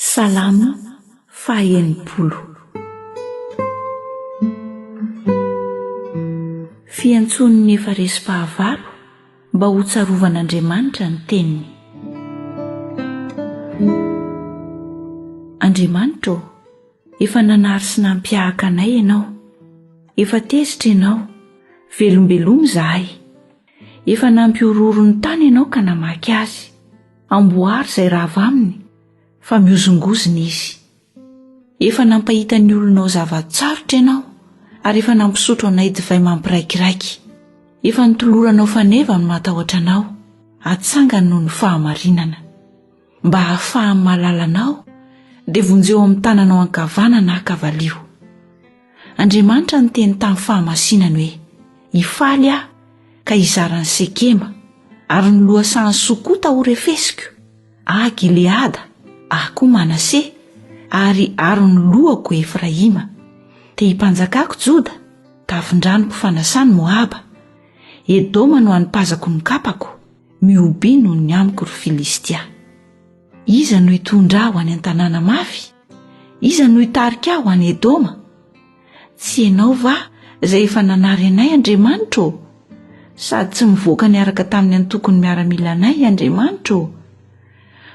Salamo faha-enimpolo. Fiantsoan'ny efa resy fahavalo mba hotsarovan'Andriamanitra ny teniny. Andriamanitra ô, efa nanary sy nampihahaka anay Ianao. Efa tezitra Ianao, velombeloma izahay. Efa nampihorohoro ny tany ianao ka namaky azy. Amboary izay rava aminy, fa mihozongozona izy. Efa nampahita ny olonao zava-tsarotra ianao, ary efa nampisotro anay divay mampiraikiraiky. Efa nitoloranao faneva ny matahotra anao, atsangany noho ny fahamarinana. mba hahafahany mahalala anao dia vonjeo amin'ny tananao ankavanana aho ka valio. Andriamanitra niteny tamin'ny fahamasinany hoe, Hifaly aho ka hizara an'i Sekema, ary ny lohasahan'i Sokota horefesiko, ahy Gileada, ahy koa Manase, ary aro ny lohako Efraima. Te himpanjakako Joda, tafindranoko fanasany Moaba. Edoma no hanipazako ny kapako. Mihobe noho ny amiko ry Filistia. Iza no hitondra aho any an-tanàna mafy? Iza no hitarika aho any Edoma? Tsy ianao va izay efa nanary anay, Andriamanitro ô? Sady tsy mivoaka niaraka tamin'ny antokon'ny miaramilanay, Andriamanitro ô?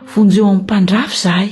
Vonjeo amin'ny mpandrafy izahay.